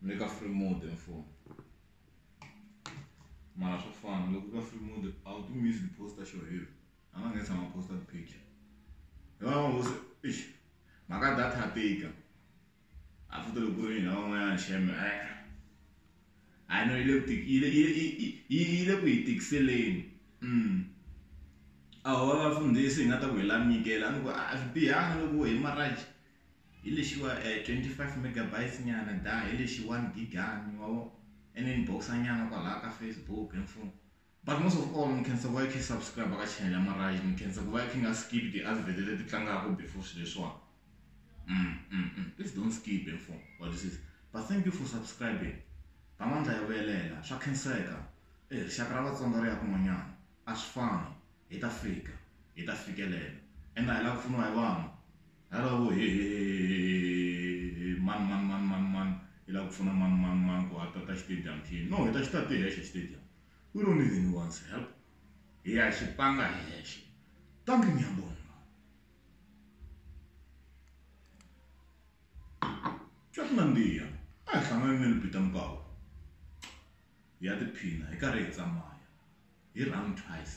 ni le ka free mode mfumo mara swa fana loko ka free mode a wu tumi yi poster xo heavy a nga nge tshama poster picture hi va ngo se eish mhaka data ya tika a futhi loko ku ri yini van'wanyana sheme eh a no yi le ku yi le yi le ku yi tikiseleni mm a ho va vafundhisi hi nga ta ku hi la nyikela a ni ku a swi bihanga loko hi maraji hi lexiwa twenty five megabytes nyana data hi lexi one gigani ma vo and then box-a nyana kwalaya ka Facebook hi mfumo but most of all ni khensa ku va i khe i subscribe ka channel ya Marhais ni khensa ku va i khe i nga skip ti-advert leti tlangaka before swilo leswiwani please don't skip hi mfumo wa twisisa but thank you for subscribing ba mandla ya vuyelela swa khenseka e rixaka ra Vatsonga ri ya kun'wanyana a swi fani hi ta fika hi ta fikelela ende a hi lava ku pfuniwa hi vanhu. Hello, he, he, he, he, man, man, man, man, man. Hi lava ku pfuna man, man, man ku a ta ta xitediyamu xini. No, hi ta xi ta ti hexe xitediyamu. We don't need anyone's help. Hi ya xi tlanga hi hexe. Dankie, ngiyabonga. Swa ku nandziha. A hi hlangane ni Lupita Mkawu. Hi ya tiphina hi karhi hi tsamaya. Hi run twice.